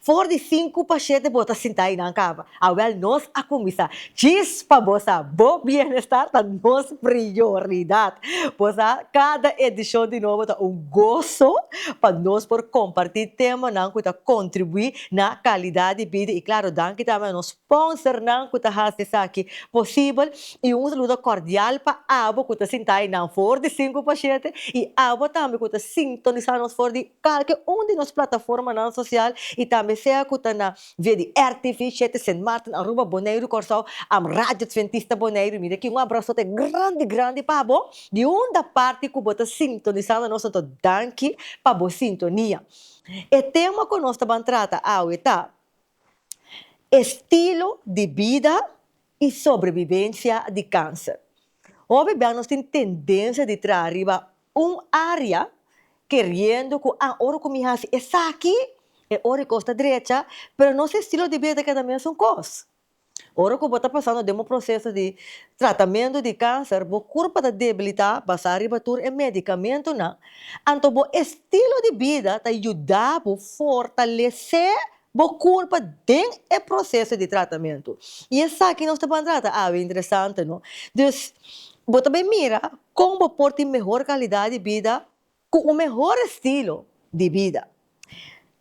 For di sinku pa shete bo ta sinta i nan kaba. Awel nos a kuminsá. Chis pa bo sa, bo bienestar ta nos prioridat. Bo sa, kada edishon di Nobo ta un goso pa nos por kompartí temanan ku ta kontribuí na kalidat di bida i, klaro, danki tambe a nos. Sponsor nan cu ta haci esaki posibel y un saludo cordial pa abo cu ta sinta ay nan for di Sinku pa Shete y abo tambe cu ta sintonisa nos for di calke un di nos plataformanan social y tambe sea cu ta na via di rtv Shete, Sint Maarten, Aruba, Boneiru, Corsou, am Radio Adventista Boneiru. Mi daki un abrasote grandi grandi pa bo di hunda parti cu bo ta sintonisando nos no ta danki pa bo sintonia. E tema cu nos ta ban trata awe ta Estilo di bida i sobrebibensia di kanser. Hóbennan nos tin tendensia di traha riba un área keriendo ku a ora ku mi hasi esaki e ora ikos ta drecha, pero nos estilo di bida ta keda mesun kos. Ora ku bo ta pasando den un proseso di tratamentu di kanser, bo kurpa ta debilitá basá riba tur e medikamentunan, anto bo estilo di bida ta yuda bo fortalesé bo kurpa den e proseso di tratamentu. I esaki nos ta ban trata awe, interesante no. Dus, bo ta bin mira kon bo por tin mehor kalidat di bida Cu un mehor estilo di bida.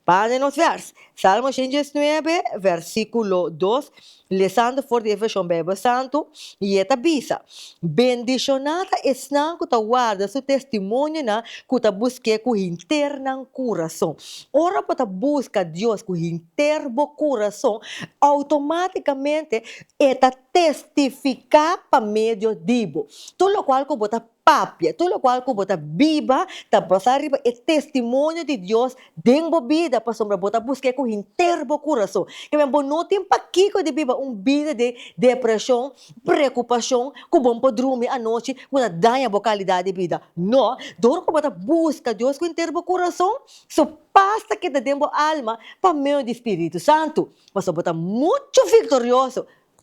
Para den nos vers. Salmo shen diesnuebe, versiculo dos, lesando for di e version Bijbel Santu, y e ta bisa, Bendiciona ta esnan cu ta warda su testimonionan, cu ta busc'é cu hinter nan curason. Ora bo ta busca Dios cu hinter bo curason, automaticamente E ta testifica pa medio di bo. Tur locual cu bo ta Papia tur lokual ku bo ta biba ta basa riba e testimonio di Dios den bo bida, pasobra bo ta busk'é ku henter bo kurason. Kebien, bo no tin pakiko di biba un bida di depreshon, preokupashon, ku bon por drumi anochi, ku ta daña bo kalidat di bida. No, dor ku bo ta buska Dios ku henter bo kurason, Su pas ta keda den bo alma pa medio di Spiritu Santu. Pasobra bo ta muchu viktorioso.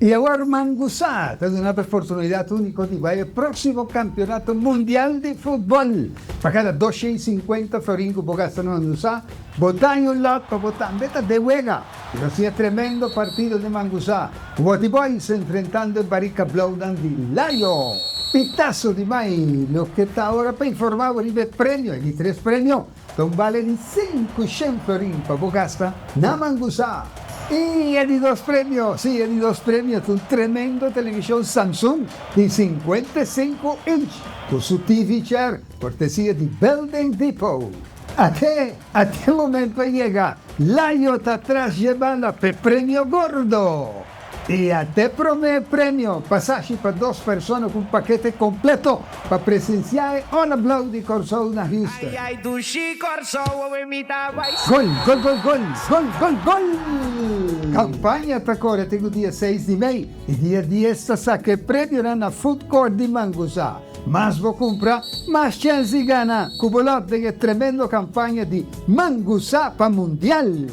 I awor Ruman Gusá ta duna por e portunidad único di bai e próksimo kampionato mundial di futbòl. Pa kada dos shei sinkuenta florin ku bo gasta na Mangusá, bo daña un lòt pa bo tambe ta den wega. Nos a siña tremendo partido den Mangusá. Wòti Boys enfrentando e Barika Blauwnan di Lion. Pitaso di mai loke ta awor a pa informá bo riba e premio. E di tres premio. Don bale di sinku shen florin pa bo gasta na mangusá. Y e di dos premio, si, e di dos premio ta un tremendo televishon Samsung di sinkuenta i sinku inch ku su TV chair kortesia di Building Depot. Ate ate momento a yega, Layo ta tras jebanda p'e premio gordo! E a te promé premio pasashi pa dos persona ku un pakete kompleto pa presensiá e Ora Blau di Kòrsou na Houston. Gol, gol, gol, gol, gol, gol, gol! Kampaña ta kore te ku dia seis di mei i dia dies ta saka e premionan na Food Court di Manguzá. Mas bo kumpra, mas chèns di gana ku bo lòt den e tremendo kampaña di Manguzá pa Mundial!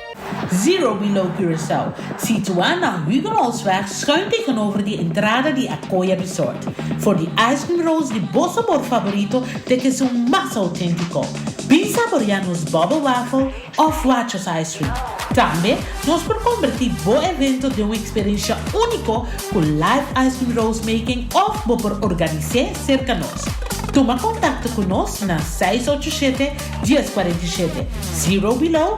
Zero Below Curaçao, situá na Huguenotsweg schuin tegenover di entrada di Acoya Resort, for di ice cream rolls di bo sabor favorito te ke su mas auténtico. Bin saborea nos bubble waffle of Wachos ice cream. Tambe nos por converti bo evento den un experiencia único cu live ice cream rolls making of bo por organise cerca nos. Tuma contacto cu nos na seis ocho siete, dies cuarenta i siete. Zero Below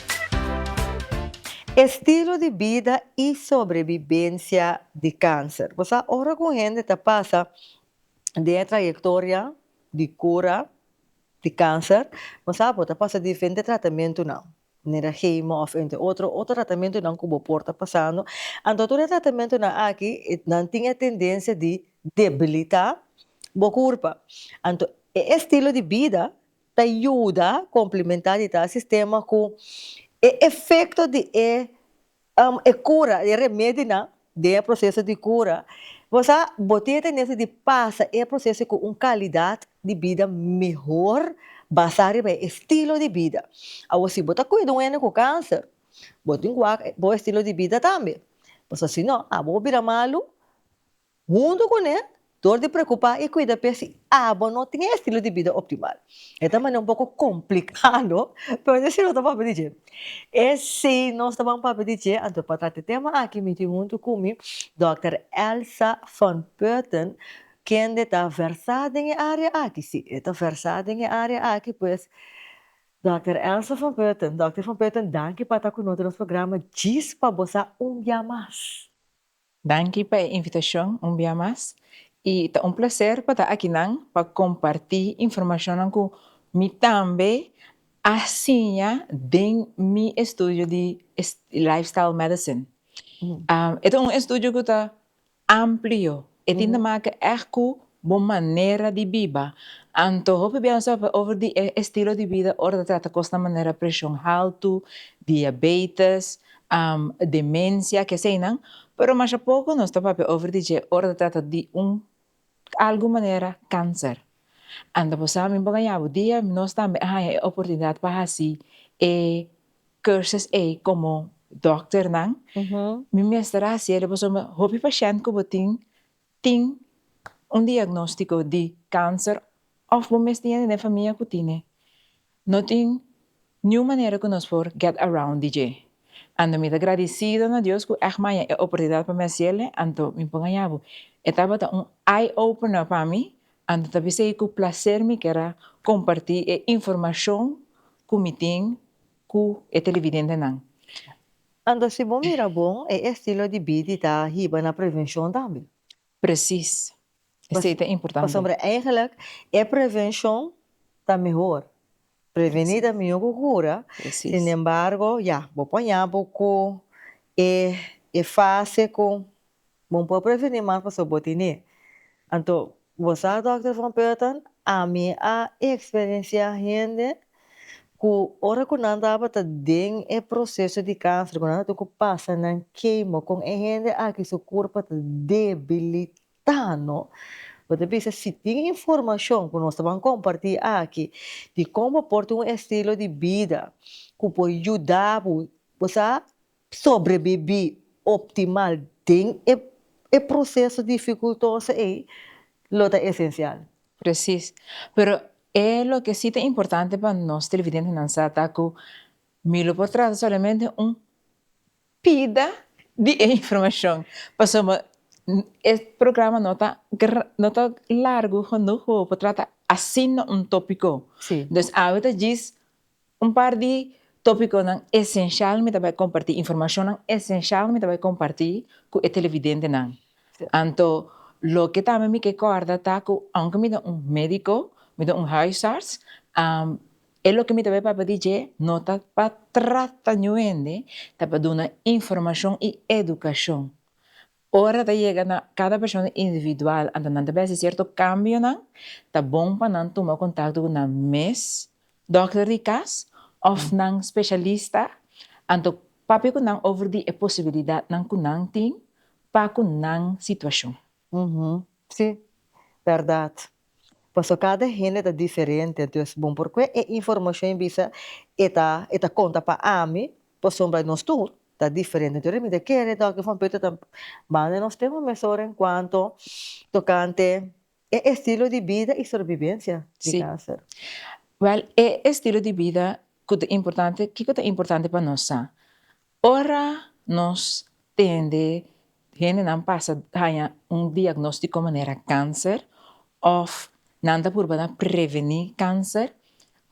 Estilo di bida i sobrebibensia di kanser. Bo sa ora ku un hende ta pasa den e trayektoria di kura di kanser, bo sa bo ta pasa diferente tratamentunan, manera hemo òf entre otro, otro tratamentunan ku bo por ta pasando. Anto tur e tratamentunan aki nan tin e tendensia di debilitá bo kurpa. Anto e estilo di bida Ta yuda komplimentá di tal sistema ku e efekto di e e kura, di e remedinan den e proseso di kura, bo sa bo tin e tendensia di pasa e proseso ku un kalidat di bida mehor basá riba e estilo di bida. Awor si bo ta kuida un hende ku kanser, bo tin ku wak bo estilo di bida tambe, pasobra si no abo bo bira malu Huntu ku ne, dor di preokupá i kuida p'e si abo no tin e estilo di bida optimal. E ta manera un poko komplikado, pero dje si nos ta papia di dje? E si nos ta ban papia di dje, anto pa trata e tema aki mi tin huntu ku mi Dòkter Elsa Van Putten, kende ta versá den e área aki. Sí, e ta versá den e área aki pues. Dòkter Elsa Van Putten, Dòkter Van Putten, danki pa ta ku nos den nos programa djis pa bo sa un bia mas. Danki pa e invitashon un bia mas i ta un plaser pa ta aki nan pa kompartí informashonnan ku mi tambe a siña den mi estudio di Lifestyle Medicine. E ta un estudio ku ta amplio, e tin ta maka ègt ku Bo manera di biba. Antoho piensa over di e estilo di bida ora ta trata cos na manera presion halto, diabetes, demencia, ke eseinan, pero masha poco nos ta papia over di dje ora ta trata di un algo manera cancer. Anda bo sa mi bo gaña bo dia nos tambe a haña e oportunidad pa haci e cursus ey como dokternan mi mester haciel pasobra hopi pashent cu bo tin Tin un diagnóstiko di kanser òf bo mes tin hende den famia ku tine. No tin niun manera ku nos por get around di dje. Anto mi ta gradisido na Dios ku èg mi haña e oportunidat pa mi hasiele, anto mi por haña bo. E tabata un eye opener pa mi, anto ta bisei ku plaser mi ker a kompartí e informashon ku mi tin ku e televidentenan. Anto si bo mira bon, e estilo di bidi ta hiba na prevenshon tambe. Presis. Esei ta importante. Pasobra eigenlik e prevenshon ta mehor. Preveni ta mihó ku kura, sinembargo, ya, bo por haña bo ku e fase ku Bo por preveni mas pasobra bo tin e. Anto bo sa Dòkter Von Purton, ami a eksperensiá hende ku ora ku nan tabata den e proseso di kanser, ku nan a tin ku pasa nan kemo, kon e hende aki su kurpa ta debilitá. No. Bo ta bisa si tin informashon ku nos ta ban kompartí aki di kon bo por tin un estilo di bida ku por yuda bo, bo sa Sobrebibí optimal den e proseso difikultoso ei lo ta esensial. Presis. Pero e loke sí ta importante pa nos televidentenan sa ta ku mi lo por trata solamente un pida di e informashon, pasobra mi e programa no ta no ta largu hunuk pa mi por trata asina un tópiko. Nos awe ta djis Un par di topiconan esencial mi ta bay comparti, informacionnan esencial mi ta bay comparti cu e televidentenan. Anto loke tambe mi ke corda ta cu aunke mi ta un medico, mi ta un huisarts, e loke mi ta bay papia di dje no ta pa trata ñu hende, ta pa duna informacion y educacion Ora ta yega na kada persona individual anto nan ta bes di sierto kambionan, ta bon pa nan tuma kontakto ku nan mes dòkter di kas òf nan speshalista anto papia ku nan over di e posibilidatnan ku nan tin pa ku nan situashon. Si, bèrdat. Paso kada hende ta diferente, anto es bon por kue e informashon e bisa e ta konta pa ami Pasobra nos tur ta diferente, enton mi ta kere ta oki Fompeto ta manda nos ten un mesora en kuanto tokante e estilo di bida i sorbibensia di kanser. Wèl, e estilo di bida ku ta importante, kiko ta importante pa nos sa? Ora nos tende Hendenan pasa haña un diagnóstiko manera kanser òf nan ta purbana prevení kanser.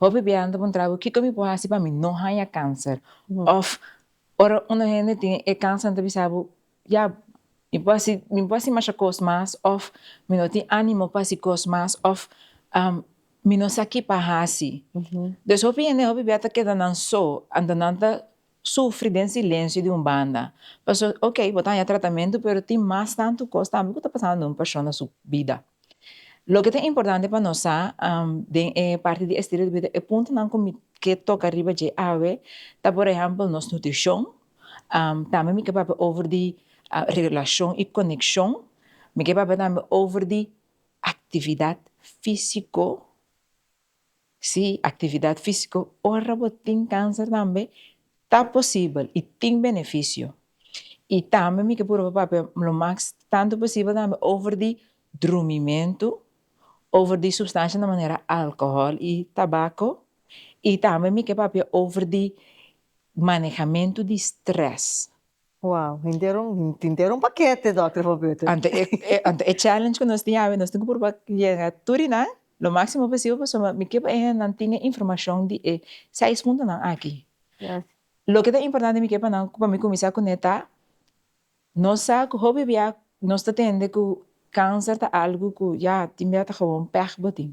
Hopi biaha nan ta puntra bo, kiko mi por hasi pa mi no haña kanser? Òf ora unda hende tin e kanser nan ta bisa bo, ya, mi por hasi, mi por hasi masha kos mas òf mi no tin ánimo pa hasi kos mas òf mi no sa ki pa hasi. Entonces hopi hende, hopi biaha ta keda nan so, anto nan ta Sufri den silensio di un banda. Pasobra so, ok, bo ta haña tratamentu, pero tin mas tantu kos tambe ku ta pasando den un persona su bida. Loke ta importante pa nos sa den e parti di estilo di bida, e puntonan ku mi ke toka riba dje awe ta, por ehèmpel, nos nutrishon, tambe mi ke papia over di relashon i konekshon, mi ke papia tambe over di aktividat físiko. Sí, actividad físico ora bo tin cáncer tambe ta posibel y tin beneficio. Y tambe mi ke purba papia lo max tanto posibel tambe over di drumimento, over di substancia na manera alcohol y tabaco y tambe mi ke papia over di manejamento di stress. Wow tintero un pakete Dòkter for Beter. Ante e challenge ku nos tin awe nos tin ku purba yega tur di nan lo máksimo posibel pasobra mi ke pa e nan tin e informashon di e seis puntonan aki. Loke ta importante mi ke pa nan ku pa mi kuminsá kuné ta nos sa ku hopi bia nos ta tende ku kanser ta algu ku ya tin bia ta gewon pèg bo tin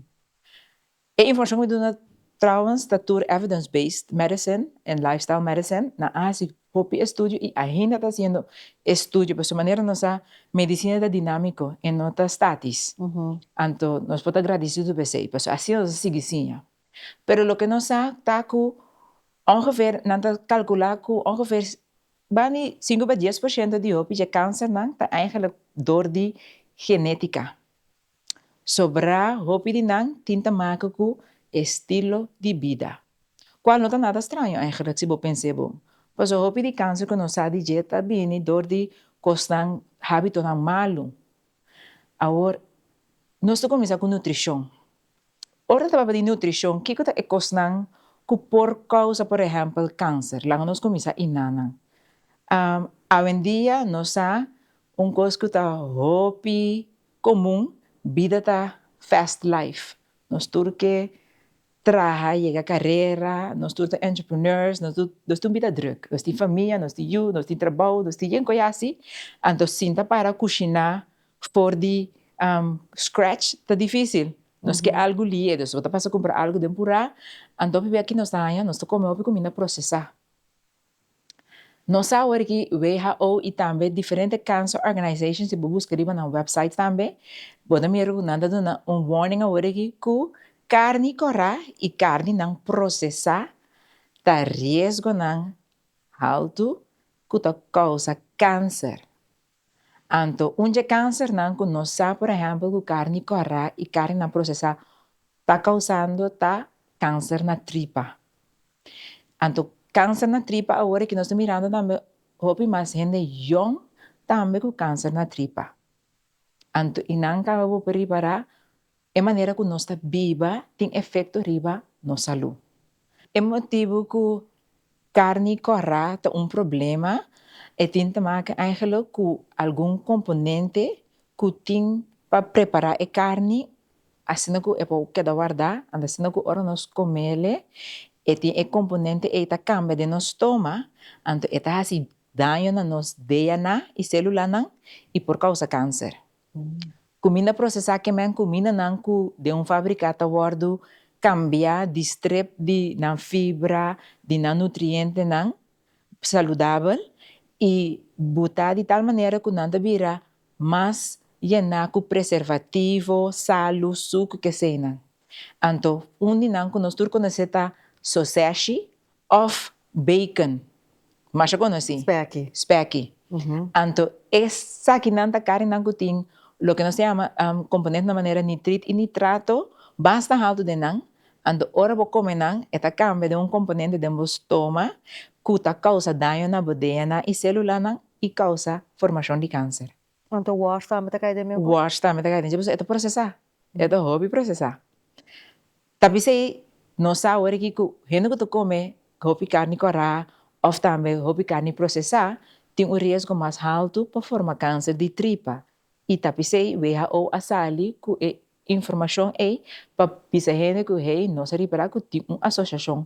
E informashon mi duna trouwens ta tur evidence-based medicine en lifestyle medicine. Nan a hasi hopi estudio i ainda ta hasiendo estudio pasobra manera nos sa medicina ta dinámiko i no ta statis anto nos por ta gradisidu pa esei pasobra asi nos a sigui siña. Pero loke nos sa ta ku ongeveer nan ta kalkulá ku ongeveer bani sinku pa dies por shento di hopi dje kánsernan ta eigenlijk dor di genétika Sobrá hopi di nan tin ta maka ku estilo di bida. Kual no ta nada straño ègèrlik si bo pens'é bo. Pasobra hopi di kanser ku nos sa di dje ta bini dor di kosnan, hábitonan malu. Awor, nos ta kuminsá ku nutrishon. Ora ta tabata di nutrishon, kiko ta e kosnan ku por kousa, por ehèmpel, kanser? Laga nos kuminsá iná nan. Awendia nos sa un kos ku ta hopi Komun, bida ta fast life, nos tur ke traha, yega karera, nos tur ta entrepreneurs, nos nos tin un bida drùk, nos tin famia, nos tin yu, nos tin trabou, nos tin yen ku a yasi, anto sin ta para kushiná for di scratch ta difísil, nos ke algu lié, nos no ta pasa kumpra algu den purá, anto hopi aki nos ta haña, nos ta kome hopi kuminda prosesá. Nos sa awor aki who y tambe diferente cancer organizations si bo busca riba nan websites tambe bo ta mira cu nan ta duna un warning awor aki cu carni cora y carni nan procesa ta riesgonan alto cu ta causa cancer. Anto, un dje kansernan ku nos sa por ehèmpel ku karni kòrá i karninan prosesá ta kousando ta kanser na tripa. Anto kanser na tripa awor e ke nos ta mirando tambe hopi mas hende yòn tambe ku kanser na tripa. Anto i nan kaba bo por ripará E manera ku nos ta biba tin efekto riba nos salú. E motibu ku karni kòrá ta un problema e tin ta make èngelok ku algun komponente ku tin pa prepará e karni asina ku e por keda wardá, anto asina ku ora nos komele e tin e komponente ei ta kambia den nos stoma, anto e ta hasi daño na nos DNAnan i sélulanan i por kousa kanser. Kuminda prosesá kemen kumindanan ku den un fabriká ta wòrdu kambiá di strep di nan fibra, di nan nutrientenan saludabel i butá di tal manera ku nan ta bira mas yená ku preservativo, salu, suk, keseinan. Anto un di nan ku nos tur konosé ta soseshi Of bacon, masha conoci, specchi. Anto esaki nan ta carinan cu tin loke nos ta yama componente na manera nitrit y nitrato basta halto den nan, anto ora bo come nan e ta cambia den un componente den bo stoma cu ta causa daño na bo DNA y celulanan y causa formacion di cancer. Anto worst tambe ta cay den mesmo? Worst tambe ta cay den dje, pasobra e ta procesa, e ta hopi procesa. Ta bisa ei, no sa awor aki cu hende cu ta come hopi carni corá of tambe hopi carni procesá tin un riesgo mas halto pa forma cancer di tripa y ta bisa ei who a sali cu e informacion ei pa bisa hende cu hei no sa ripará cu tin un asociacion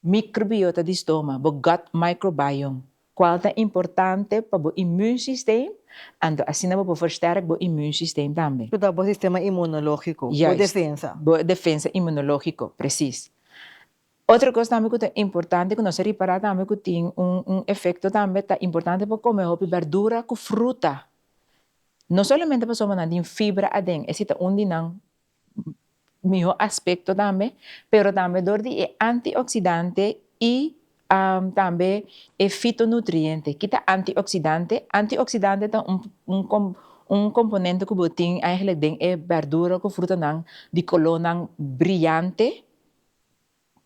Microbiota di stoma, bo gut microbiome, cual ta importante pa bo imuunsysteem, anto asina bo por versterk bo imuunsysteem tambe. Cu ta bo sistema inmunologico, bo defensa. Juist, bo defensa inmunologico, precies. Otro cos tambe cu ta importante cu nos a ripara tambe cu tin un efecto tambe ta importante pa come hopi berdura cu fruta, no solamente pasobra nan tin fibra aden, e si ta un di nan miho aspecto tambe pero tambe dor di e antioxidante y tambe e fitonutriente, ki ta antioxidante? Antioxidante ta un componente cu bo tin eigenlijk den e berdura cu frutanan di colornan brillante,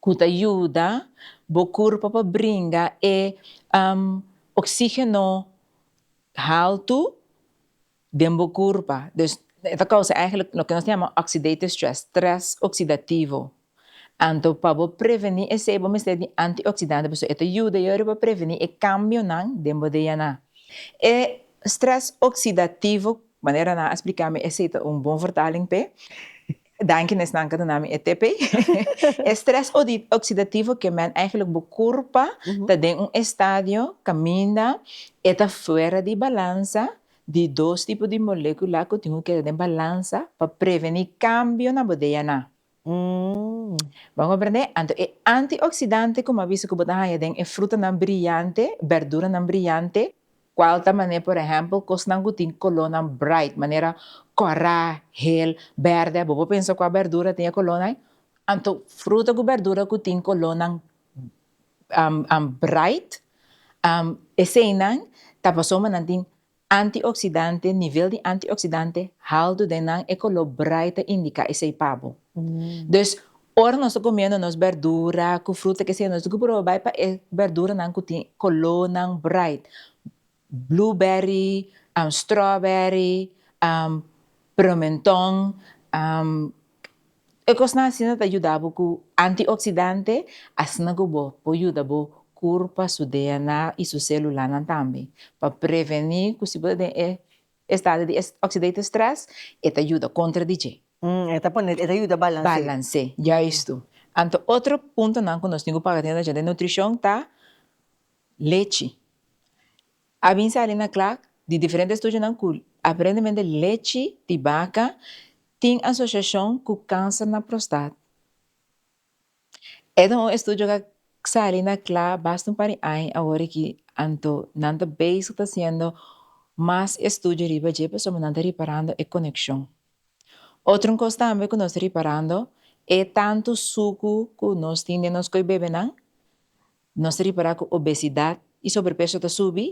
ku ta yuda bo kurpo pa bringa e oksígeno haltu den bo kurpa. Dus e ta kousa ègèlèk loke nos ta yama oxidative stress, strès oksidativo. Anto pa bo prevení esei bo mester di antioksidantenan pasobra e ta yuda your pa prevení e kambionan den bo DNA. E strès oksidativo, manera nan a spliká mi esei ta un bon vertaling p'e. Danki na esnan cu a duna mi e TP. E stress oxidativo ke men eigenlijk bo curpa ta den un estadio caminda e ta fuera di balansa di dos tipo di molecula cu tin cu keda den balansa pa preveni cambio na bo DNA. Bo a comprende? Anto e antioxidante cu mi a bisa cu bo ta haya den e frutanan briyante, berduranan briyante, Cual ta mané por ehempel cosnan cu tin colornan bright, manera cora, hel, berde, bo por pensa cu a berdura tin e colornan ai? Anto fruta cu berdura cu tin colornan bright eseynan ta pasobra bo nan tin antioxidante, nivel di antioxidante halto den nan, e color bright ta indica esey pa bo, dus Ora nos ta comiendo nos berdura cu fruta que sea nos tin cu proba bay pa e berduranan cu tin colornan bright, blueberry, strawberry, promenton, e cosnan asina ta yuda bo cu antioxidante asina cu bo por yuda bo curpa, su DNA y su celulanan tambe pa preveni cu si bo ta den e Estado di oxidative stress e ta yuda kontra di dje. E ta pone, e ta yuda balans'é. Balans'é, juistu. Anto otro puntonan ku nos tin ku paga atenshion den nutrishon ta lechi. A bin sali na kla di diferente estudionan ku aparentemente lechi di baka tin asosiashon ku kanser na prostat. E ta un estudio cu a sali na cla basta un par di aña awor aki, anto nan ta bezig ta haciendo mas estudio riba dje pasobra nan ta reparando e coneccion. Otro cos tambe cu nos ta reparando e tanto sucu cu nos tin den nos coi bebenan, nos ta repara cu obesidad y sobrepeso ta subi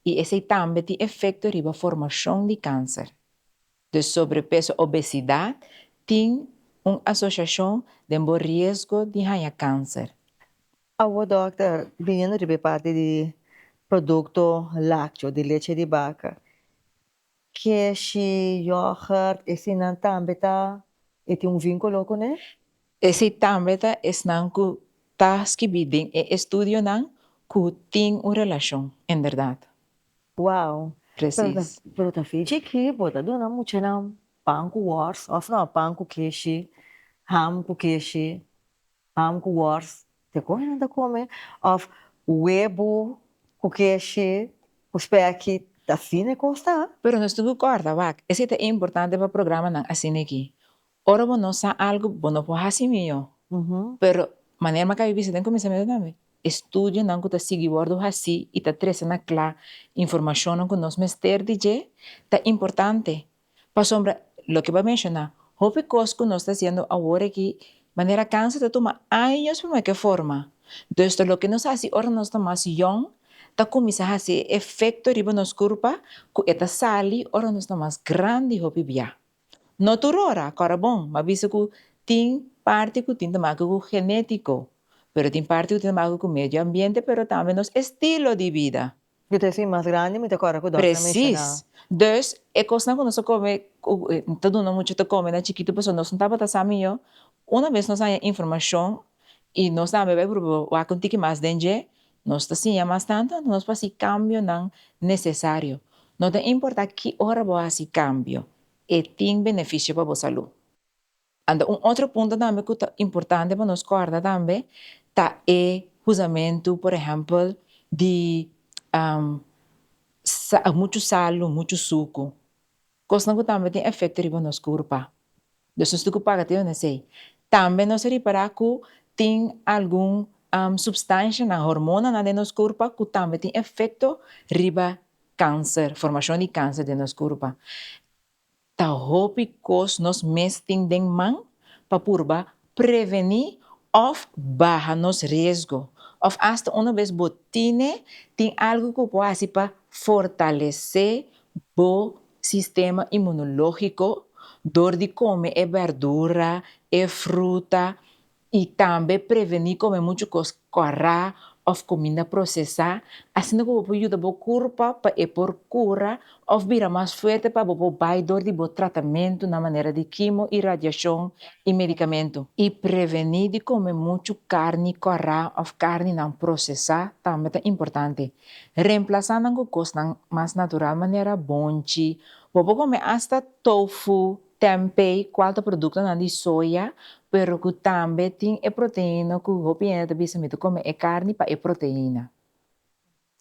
y esey tambe tin efecto riba formacion di cancer. De sobrepeso, obesidad, tin un asociacion den bo riesgo di haña cancer. Awo dokter, biniendo riba e parti di producto lacteo, di leche di baca, keshi, yoghurt, esinnan tambe ta, e tin un vinculo cune? Esei tambe ta esnan ku ta skibí den e estudionan ku tin un relashon en bèrdat. Wow! Presis. Pero ta fin chikí por ta duna muchanan pan ku wòrs òf nò pan ku keshi, ham ku keshi, ham ku wòrs, te kon nan ta kome? Òf webo ku keshi ku spèki, ta fin e kos ta. Pero nos tin ku kòrda wak, esei ta importante pa programanan asin'eki. Ora bo no sa algu bo no por hasi mió, pero manera m'a bisa den kuminsamentu tambe, estudionan ku ta sigui wòrdu hasí i ta trese na kla informashonnan ku nos mester di dje ta importante, pasobra loke bo a menshoná, hopi kos ku nos ta hasiendo awor aki, manera kansa ta tuma años pa meke forma, dus ta loke nos hasi ora nos ta mas yòn ta kuminsá hasi e efekto riba nos kurpa ku e ta sali ora nos ta mas grandi hopi biá. No tur ora kòrda bon, m'a bisa ku tin parti ku tin ta maka ku genetiko, pero tin parti ku tin ta maka ku medio ambiente pero tambe nos estilo di bida. Yo ta fin mas grandi mi ta kòrda ku Donna ta menshona. Presis. Dus e kosnan ku nos ta kome ku no ta duna muchu ta kome na chikitu pasobra nos no tabata sa mihó, una bes nos haña informashon i nos tambe bai pruba wak un tiki mas den dje, Nos ta siña mas tantu anto nos por hasi cambionan necesario. No ta importa ki ora bo hasi cambio, e tin beneficio pa bo salú. Anto un otro punto tambe cu ta importante pa nos corda tambe ta e huzamentu por ehempel di muchu salu, muchu sucu, cosnan cu tambe tin efecto riba nos curpa. Nos no sta ku paga te horas ei. Tambe nos a ripará ku tin algun supstanshanan, hormonanan den nos kurpa ku tambe tin efekto riba kanser, formashon di kanser den nos kurpa. Ta hopi kos nos mes tin den man pa purba prevení òf baha nos riesgo. Òf asta unu bes bo tine, tin algu ku bo por hasi pa fortalesé bo sistema inmunológiko dor di kome e bèrdura, e fruta i tambe prevení kome muchu kos kòrá òf kuminda prosesá, asina ku bo por yuda bo kurpa pa e por kura òf bira mas fuerte pa bo por bai dor di bo tratamentu na manera di kimo i radiashon i medikamentu. I prevení di kome muchu karni kòrá òf karninan prosesá tambe ta importante. Reemplasa nan ku kosnan mas natural manera bonchi. Bo por kome asta tofu, tempeh, kual ta produktonan di soya, pero ku tambe tin e proteina ku hopi hende ta bisa mi ta kome e karni pa e proteina.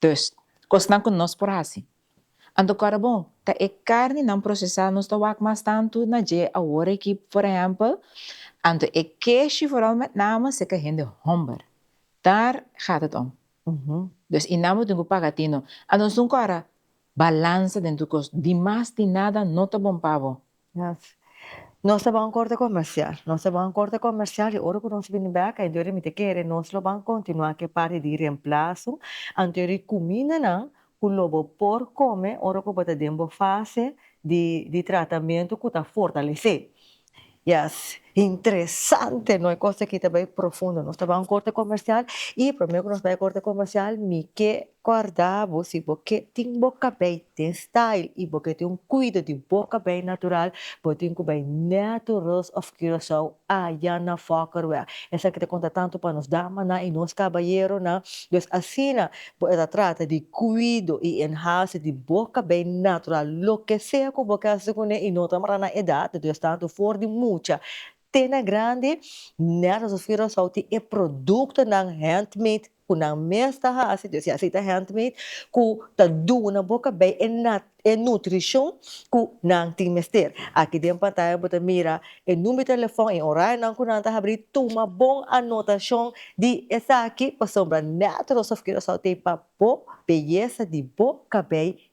Dus, kosnan ku nos por hasi. Anto kòrda bon, ta e karni nan prosesá nos ta wak mas tantu na dje awor aki, por ehèmpel, anto e keshi vooral met name seka hende hòmber. Daar gaat het om. Pues i nan bo tin ku paga tin no. A nos dun kòrda, balansa den tur kos, di mas di nada no ta bon pa bo. Yes, nos ta ban korte komersial, nos ta ban korte komersial i ora ku nos bini bèk anto yori mi ta kere nos lo ban kontinuá ku e parti di remplaso, anto yori kumindanan ku lo bo por kome ora ku bo ta den bo fase di di tratamentu ku ta fortalesé. Yes, interesante! No e kos aki ta bai profundo. Nos ta bai un korte komersial i promé ku nos bai korte komersial mi ke kòrda bo si bo ke tin bo kabei den style i bo ke tin un kuido di bo kabei natural bo tin ku bai Natureus of Curacao. A ya na fokker wea. Esaki ta konta tantu pa nos damanan i nos kabayeronan. Pues asina bo e ta trata di kuido i enhase di bo kabei natural loke sea ku bo ke hasi ku ne i no ta mara na edat, dus tantu for di mucha te na grandi, nèt asof Curaçao tin e produktonan handmade. ku nan mes ta hasi dje si'a si ta handmade ku ta duna bo kabei e e nutrishon ku nan tin mester aki den pantaya bo ta mira e number di telefòn i orarionan ku nan ta habri tuma bon anotashon di esaki pasobra nèt Rosa of Curaçao tin pa bo beyesa di bo kabei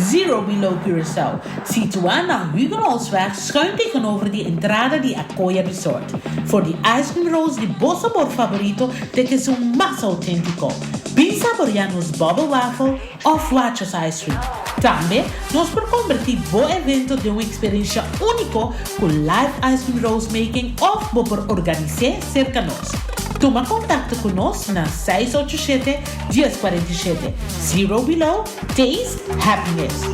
Zero Below Curaçao, situá na Huguenotsweg schuin tegenover di entrada di Acoya Resort. For di ice cream rolls di bo sabor favorito te ke su mas auténtico. Bin saboreá nos bubble waffle of Wachos ice cream. Tambe nos por convertí bo evento den un experiencia único cu live ice cream rolls making of bo por organisé cerca nos. Tuma contacto cu nos na seis ocho shete, dies cuarenta i shete. Zero Below. Taste happiness.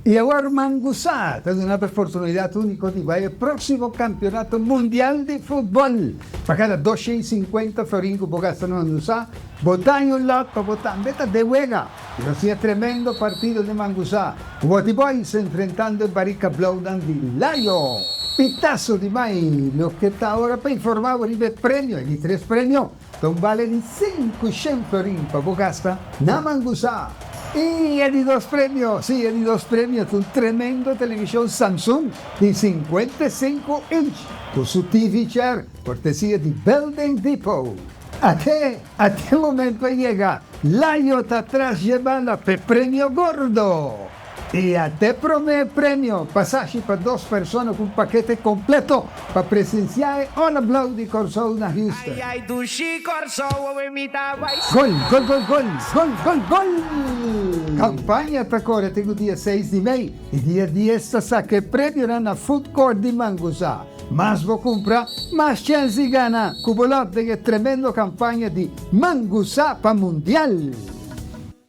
Y awor Ruman Gusa ta duna oportunidad unico di bai e proximo Campeonato Mundial di Futbol. Pa cada dos shen cincuenta florin cu bo gasta Ruman Gusa, bo daña un lot pa bo tambe ta den wega. Y nos tin e tremendo partido di Ruman Gusa, cu Water Boys enfrentando e Barika Blauwnan di Layo. Pitaso di mai, loke ta awor pa informa bo riba e premio, e di tres premio. Lo bale di sinku shen florin pa bo gasta na mangusá. I e di dos premio, si, e di dos premio ta un tremendo televishon Samsung di sinkuenta i sinku inch ku su TV chair, kortesia di Building Depot. Ate ate momento a yega, la yo ta tras jebanda p'e premio gordo! E a te promé premio pasashi pa dos persona ku un pakete kompleto pa presensiá e All Ablaw di Kòrsou na Houston. Gol, gol, gol, gol, gol, gol, gol! Kampaña ta kore tin ku dia seis di mei i dia dies ta saka e premionan na Food Court di Manguzá. Mas bo kumpra, mas chèns di gana ku bo lòt den e tremendo kampaña di Manguzá pa Mundial!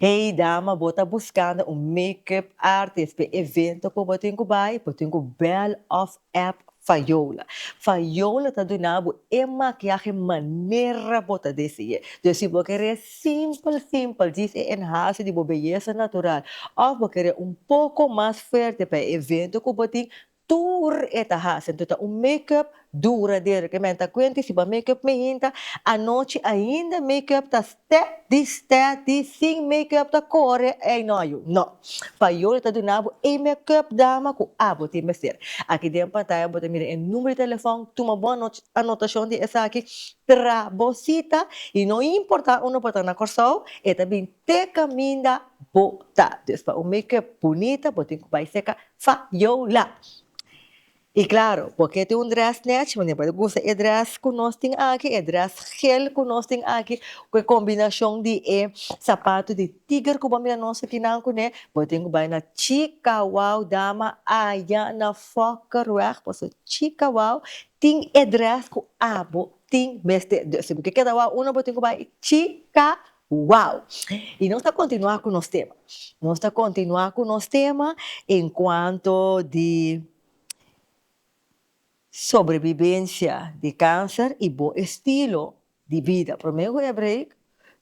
Hey dama bo ta buskando un makeup artist p'e evento ku bo tin ku bai? Bo tin ku bèl òf app Fayola. Fayola ta duna bo e makiahe manera bo ta desié. Dus si bo kere simpel simpel djis e enhase di bo beyesa natural òf bo kere un poko mas fuerte pa e evento ku bo tin, Tur e ta hasi anto ta un make up duradero ke men ta kuenta y si ba make up mi hinta anochi ainda make up ta stè di stè di sin make up ta kore ey no yu no pa yo lo ta duna bo e make up dama ku abo tin mester aki den pantaya bo ta mira e numero di telefon tuma bon anotashon di esaki tra bo sita y no importa unda bo ta na Kòrsou e ta bin te kaminda bo ta dus pa un make up bunita bo tin ku bai seka Fa yo la. Y claro, bo ke tin un dress nech, bo por usa e dress cu nos tin aki, e dress geel cu nos tin aki, cu e combinacion di e zapato di tiger cu bo a mira nos akinan cu ne, bo tin cu bay na Chicawao, dama aya na Fokkerweg, bo so Chicawao, tin e dress cu abo tin mester. Bo ke keda wou uno, bo tin cu bay Chicawao. Wow! I nos ta kontinuá ku nos tema. Nos ta kontinuá ku nos tema en kuanto di sobrebibensha di kanser i bo estilo di bida. Promé ku e break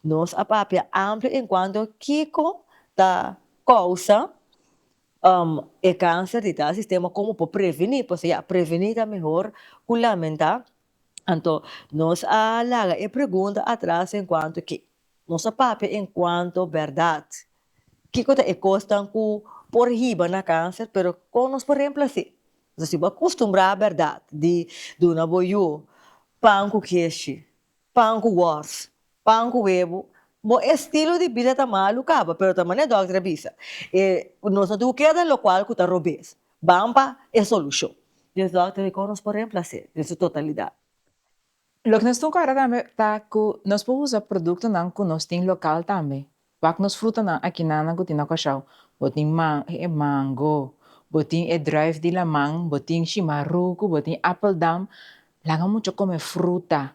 nos a papia amplio en kuanto kiko ta kousa e kanser di tal sistema, komo por prevení, pasobra ya prevení ta mehor ku lamentá Anto, nos a laga e pregunta atras den kuantu ke nos a papia en kuanto bèrdat. Kiko ta e kosnan ku por hiba na kanser, pero kon nos por remplas'é? Nos a sibi a kustumbrá bèrdat di duna bo yu pan ku keshi, pan ku wòrs, Pan ku webu. Bo estilo di bida ta malu kaba, pero ta manera e dòkter a bisa. E nos no tin ku keda lokual ku ta robes. Ban pa e solushon. Dios dòkter dikon nos por remplas'é den su totalidat? Loke nos tin ku ora tambe ta ku nos por usa produktonan ku nos tin lokal tambe. Pak nos frutanan akinana ku tin na Kòrsou. Bo tin man e mango, bo tin e druif di laman, bo tin shimaruku, bo tin appeldam. Laga mucha kome fruta.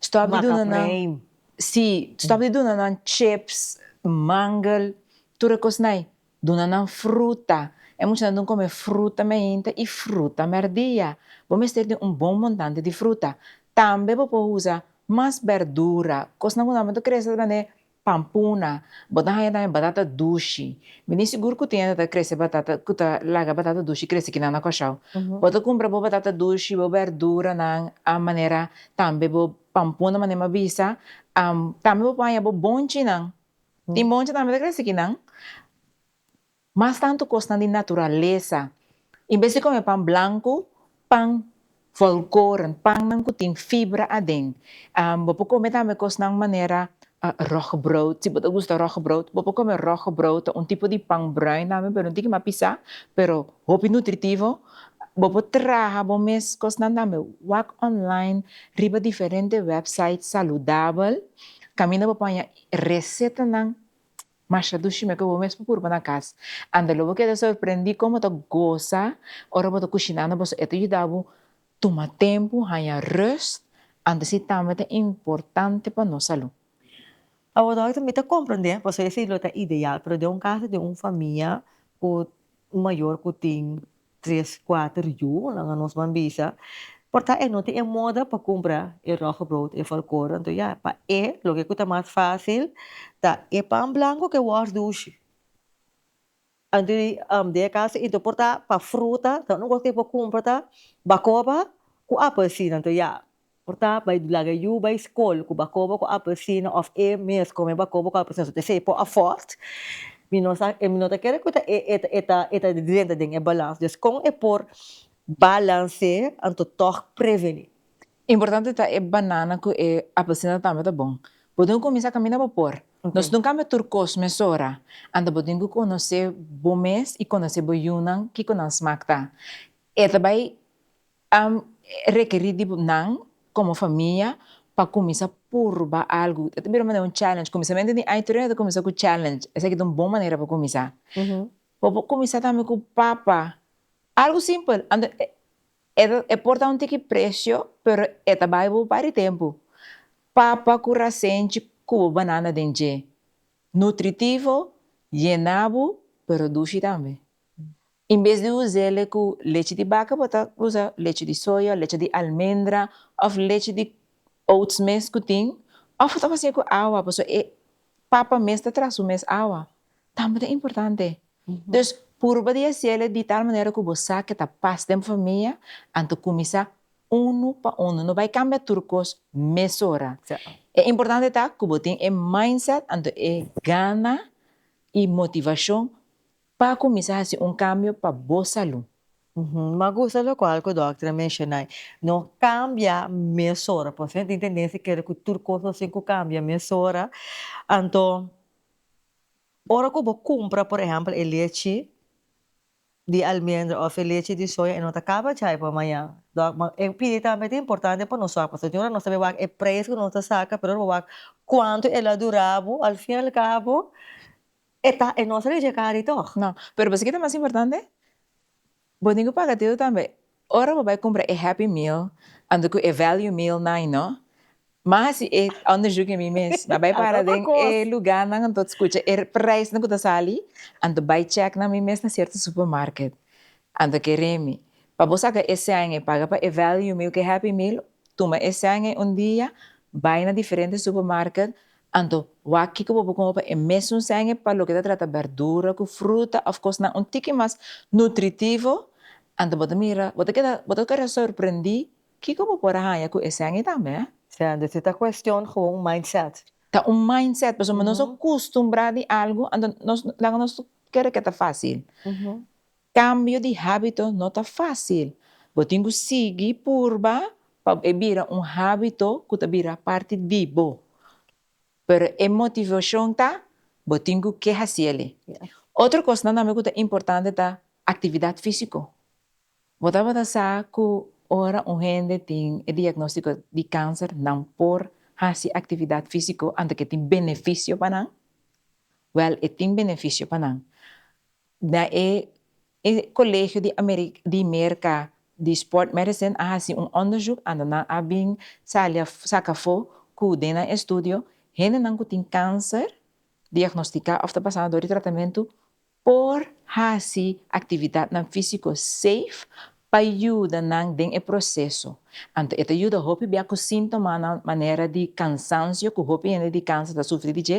Stòp di duna nan, sí, stòp di duna nan chips, mangel, tur e kosnai. Duna nan fruta. E muchanan dun kome fruta meinta i fruta mèrdia. Bo mester tin un bon montante di fruta. Tambe bo por usa mas bèrdura, kosnan ku nan bo ta kresa ta bende Pampuna, Bo ta haña tambe batata dushi. Mi tin sigur ku tin hende ta krese batata, ku ta laga batata dushi krese kinan na Kòrsou. Bo ta kumpra bo batata dushi, bo bèrduranan, a manera tambe bo pampuna manera mi a bisa. Tambe bo por haña bo bonchinan. Tin bonchi tambe ta krese kinan. Mas tantu kosnan di naturalesa. En bes di kome pan blanku, pan volkoren, pannan ku tin fibra aden. Bo por kome tambe kosnan manera rogbrood, si bo ta gusta rogbrood, bo por kome rogbrood, ta un tipo di pan bruin tambe pero no tin kimak pisa, pero hopi nutritivo. Bo por traha bo mes kosnan tambe, wak online riba diferente wèpsait saludabel kaminda bo paña resetanan Marsha Dushi me ke bo mes pa purba na cas. Anda lo bo keda sorprendi como ta goza ora bo ta cushinando boso e ta yuda bo tuma tempo haya rust antes y tambe ta importante pa nos salu. Awo doctor mi ta comprende pasobra esi lo ta ideal pero den un caso di un famia cu Un mayor cu tin tres, cuater yu, nan a nos man bisa, por ta e no tin e moda pa cumpra e roggebrood, e volkoren, enton ya, pa e loke cu ta mas facil ta e pan blanco cu e worst dushi. Enton den e caso enton por ta pa fruta, ta unu cos cu e por cumpra ta bacoba cu apelsin, enton ya, Por ta bay laga yu bay school cu bacoba cu apercina of e mes cu me bacoba cu apercina so tesa e por afford mi no sa mi no ta kere cu ta e ta drenta den e balans dus con e por balance anto tog preveni. Importante ta e banana cu e apercina tambe ta bon bo tin cu cuminsa camina bo por nos no cambia tur cos mesora anto bo tin cu conoce bo mes y conoce bo yunan kico nan smaak ta e ta bay Ta rekerí di nan komo famia pa kuminsá purba algu. Ta bira un manera, un challenge. Kuminsamentu di aña tur hende ta kuminsá ku challenge. Esaki ta un bon manera pa kuminsá. Bo por kuminsá tambe ku papa. Algu simpel. Anto e por ta un tiki presio pero e ta bai bo bari tempu. Papa ku rasenchi ku bo banana den dje. Nutritivo, yená bo pero dushi tambe. In bes di us'ele ku lechi di baka bo ta usa lechi di soya o lechi di almendra òf lechi di oats mes ku tin òf bo ta fasié ku awa pasobra e papa mes ta traha su mes awa tambe ta importante dus purba di hasièle di tal manera ku bo sa ke ta pas den bo famia anto kuminsá unu pa unu no bai kambia tur kos mesora e importante ta ku bo tin e mindset anto e gana i motivashon Pa cuminsa haci un cambio pa bo salud. M'ha gusta locual cu dokter a mencionai, no cambia mesora, pasobra nan tin tendencia di kere cu tur cos lo hacé cu cambia mesora, anto ora cu bo cumpra por ehempel e lechi di almendra of e lechi di soya e no ta caba djai pa mañan, dòk ma e pidi tambe ta importante pa nos wak pasobra tin ora nos ta wak e prijs cu nos ta saca pero ora bo wak cuanto el a dura bo al fin al cabo. E ta e nos reyega di tog. No, pero bo sa ki'e ta mas importante? Bo tin ku paga deu tambe. Ora bo bai kumpra e happy meal anto ku e value meal nan no, m'a hasi e onderzoeknan mi mes, m'a bai para den e lugarnan anto skucha e preisnan ku ta sali, anto bai chèk na mi mes na sierto supermarket, anto ke remi. Pa bo saka e sènge paga pa e value meal ku e happy meal, tuma e sènge un dia, bai na diferente supermarket, Anto, wak kiko bo por kuma pa e mesun sènge pa loke ta trata bèrdura ku fruta òf kosnan un tiki mas nutritivo. Anto bo ta mira, bo ta keda, bo ta keda sorprendí kiko bo por a haña ku e sènge tambe. Anto si ta kuestion gewoon un mindset. Ta un mindset, pasobra nos a kustumbrá di algu, anto nos laga nos kere ke ta fásil. Kambio di hábito no ta fásil. Bo tin ku sigui purba pa e bira un hábito ku ta bira parti di bo. Pero e motivashon ta, bo tin ku ke hasi el'i. Otro kosnan tambe ku ta importante ta aktividat físiko. Bo tabata sa ku ora un hende tin e diagnóstiko di kanser nan por hasi aktividat físiko anto ku e tin benefisio pa nan? Wèl e tin benefisio pa nan. Na e e Colegio di Ameri di Merca di Sport Medicine a haci un onderzoek ando nan a bin sali a saca afo cu den nan estudio hendenan cu tin cancer diagnostica of ta pasando door di tratamento por haci actividadnan fisico safe pa yuda nan den e proseso. Anto e ta yuda hopi bia ku síntomanan manera di kansansio ku hopi hende di kanser ta sufri di dje.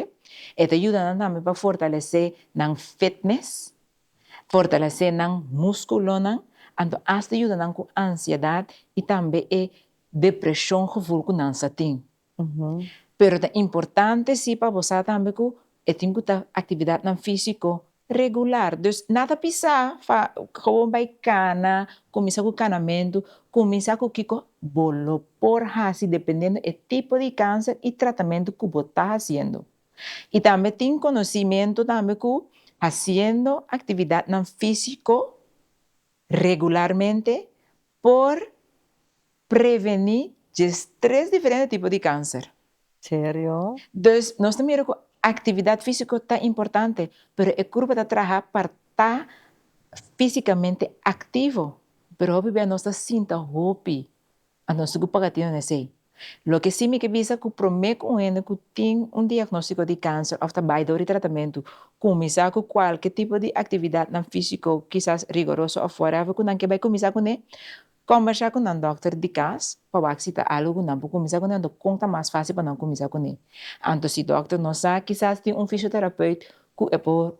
E ta yuda nan tambe pa fortalesé nan fitnes, fortalesé nan múskulonan, anto asta yuda nan ku ansiedat i tambe e depreshon gevoel ku nan sa tin. pero ta importante si pa bo sa tambe ku e tin ku ta aktividatnan físiko regular, dus nan ta bisa pa komo bai kana, kuminsá ku kanamentu, kuminsá ku kiko bo lo por hasi dependiendo e tipo di kanser i tratamentu ku bo ta hasiendo i tambe tin konosimiento tambe ku hasiendo aktividatnan físiko regularmente por preveni djes tres diferente tipo di kanser. Serio? Dus nos ta mira ku aktividat físiko ta importante, pero e kurpa ta traha pa ta físikamente aktivo, pero hopi bia nos ta sinta hopi, anto nos tin ku paga atendo na esei. Loke sí mi ke bisa ku promé ku un hende ku tin un diagnóstiko di kanser òf ta bai dor i tratamentu, kuminsá ku kualke tipo di aktividatnan físiko, kisas rigoroso òf whatever, ku nan ke bai kuminsá kuné, kòmbersá ku nan dòkter di kas pa wak si ta algu ku nan por kuminsá kuné anto kon ta mas fásil pa nan kuminsá kuné. Anto si dòkter no sa, kisas tin un fisioterapeut ku e por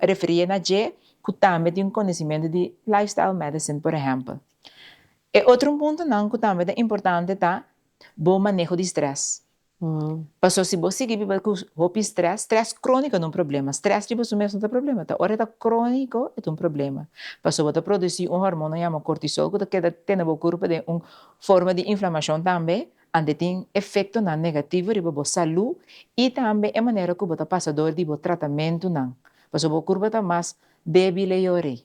referié na dje ku tambe tin konosementu di lifestyle medicine, por ehèmpel, E otro puntonan cu tambe ta importante ta bo maneho di stress. Pasobra si bo sigui biba cu hopi stress, stress cronico no ta un problema, stress riba su mes no ta problema, ta ora e ta cronico e ta un problema, pasobra bo ta produci un hormono yama cortisol cu ta keda tene bo curpo den un forma di inflamacion tambe, anto e tin efectonan negativo riba bo salud y tambe e manera cu bo ta pasa dor di bo tratamentonan, pasobra bo curpo ta mas Baby Leori.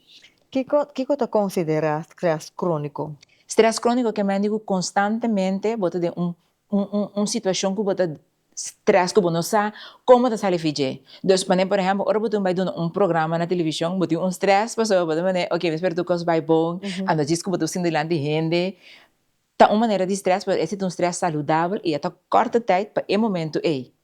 Kiko kiko ta konsiderá strès króniko? Strès króniko ke mende ku konstantemente bo ta den un un un un situashon ku bo ta strès ku bo no sa komo ta sali fi dje. Dus manera por ehèmpel ora bo tin bai duna un programa na televishon bo tin un strès pasobra bo ta manera oke mi spera tur kos bai bon, a no djis ku bo ta sinti dilanti hende Ta un manera di stress pero ese ta un stress saludabel y a ta corta tijd pa e momento ey.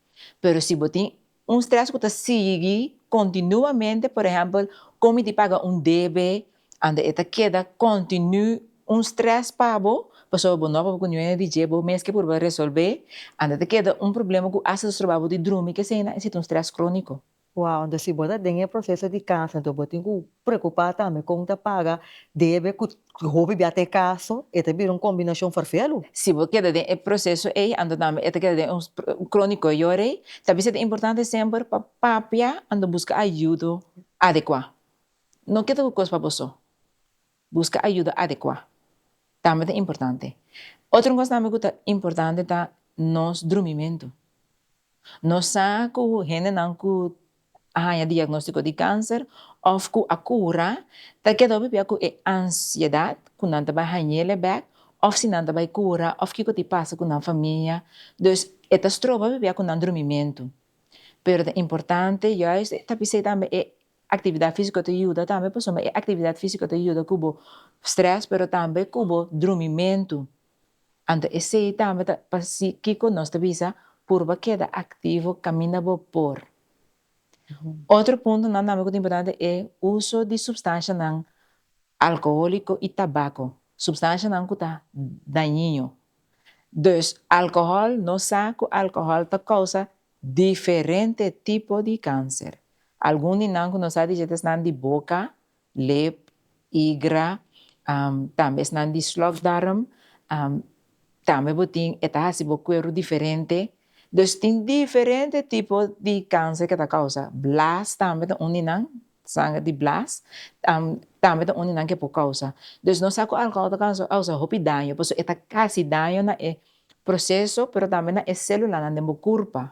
Pero si bo tin un stress cu ta sigui continuamente, por ehempel comi di paga un debe, anda e ta keda continu un stress pa bo, pasobra bo no por cu niuno di dje, bo mes ke purba resolbe, anda ta keda un problema cu hasta ta stroba bo di drumi, kesey nan e situ un stress cronico. Wow, entos si bo ta den e proceso di casa entos bo tin cu preocupa tambe con ta paga debe cu hopi bia ta e caso, e ta bira un combinacion vervelu. Si bo keda den e proceso ey anto tambe e ta keda den un cronico e yora ey, ta bisa ta importante semper pa papia anto busca ayudo adecua. No keda cu cos pa bo so. Buska ayuda adekuá tambe ta importante. Otro kos tambe ku ta importante ta nos drumimentu. Nos sa ku hendenan ku a haña diagnóstiko di kanser òf ku a kura ta keda pipia ku e ansiedat ku nan ta bai hañel e bèk òf si nan ta bai kura òf kiko ta pasa ku nan famia. Dus e ta stroba pipia ku nan drumimentu. Pero ta importante yòs ta pisei tambe e Actividad físico ta yuda tambe pasobra e actividad físico ta yuda cu bo stress pero tambe cu bo drumimento. Anto esey tambe ta pa si kico nos ta bisa purba keda activo caminda bo por. Otro puntonan tambe cu ta importante e uso di substancianan alcoholico y tabaco, substancianan cu ta dañino. Dus alcohol nos sa cu alcohol ta causa Diferente tipo di kanser. Algun di nan ku nos a dish et esnan di boka, lep, igra, tambe esnan di slokdarm, tambe bo tin e ta hasi bo kueru diferente, dus tin diferente tipo di kanser ke ta kousa, blaas tambe ta un di nan Sanger di blas tambe ta un di nan ke por causa dus nos sa cu alcohol ta causa hopi daño pasobra e ta casi daño na e proceso pero tambe na e celulanan den bo curpa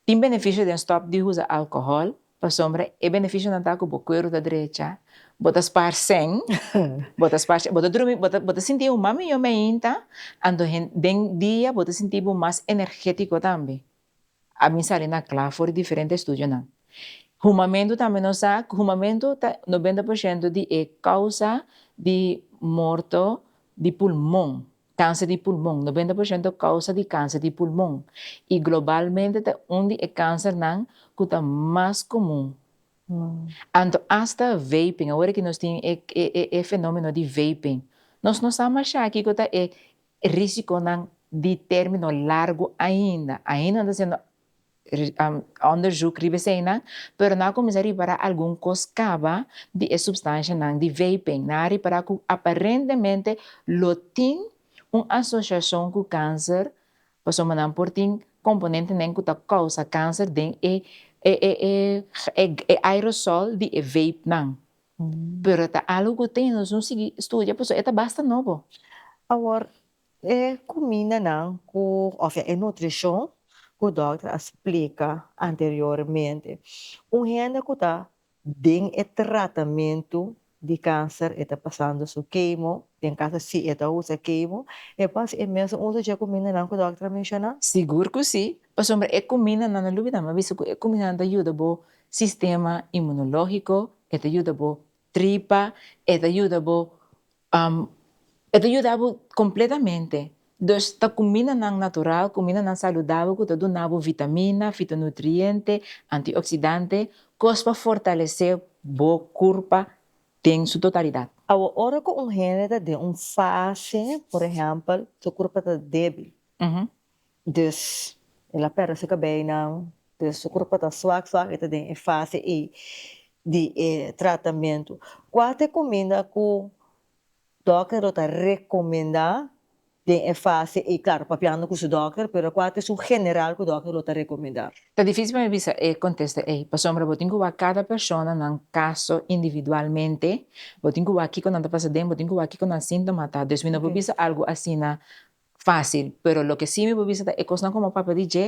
tin beneficio den stop di usa alcohol pasobra e beneficionan ta cu bo cuero ta drecha bo ta spaar seng bo ta spaar seng bo ta drumi bo ta sinti bo mas mijo me ainda anto den dia bo ta sinti bo mas energetico tambe A bin salina kla for di diferente estudionan. Humamentu tambe nos sa ku humamentu ta nobenta por shento di e kousa di morto di pulmon, kanser di pulmon, nobenta por shento kousa di kanser di pulmon, i globalmente ta un di e kansernan ku ta mas komun. Anto asta vaping, awor e ki nos tin e fenomeno di vaping, nos no sa masha kiko ta e E risiconan di termino largo ainda, ainda ta haciendo onderzoek riba eseinan, pero nan a cuminsa ripara algun cos caba di e substancianan di vaping, nan a ripara cu aparentemente lo tin un asociacion cu cancer pasobra nan por tin componentenen cu ta causa cancer den e aerosol di e vapenan. Pero ta algo cu ta nos un sigui studia pasobra e ta basta nobo. Awor e cumindanan cu ofsea e nutricion cu dokter a splica anteriormente un hende cu ta den e tratamento di cancer e ta pasando su kemo den caso si e ta usa kemo e pas e mes usa dje cumindanan cu dokter a menciona? Sigur cu si, pasobra e cumindanan lo loe di dame a bisa cu e cumindanan ta yuda bo sistema inmunológiko, e ta yuda bo tripa, e ta yuda bo, e ta yuda bo kompletamente. Dus ta kumindanan natural, kumindanan saludabel ku ta duna bo vitamina, fitonutriente, antioksidante, kos pa fortalesé bo kurpa den su totalidat. Awa ora ku un hende ta den un fase, por ehèmpel, su kurpa ta débil, Dus, el a pèrdè su kabeinan, dus su kurpa ta swak swak, e ta den e fase ei di e tratamentu. Kua ta e kuminda ku dòkter lo ta rekomendá den e fase ei? Klaru, papiando ku su dòkter, pero kua ta esun general ku dòkter lo ta rekomendá? Ta difísil pa mi bisa e kontesta ei, pasobra bo tin ku wak kada persona nan kaso individualmente, bo tin ku wak kiko nan ta pasa den, bo tin ku wak kiko nan síntoma ta, dus mi no por bisa algu asina fácil, pero loke sí mi por bisa ta e kosnan ku mi a papia di dje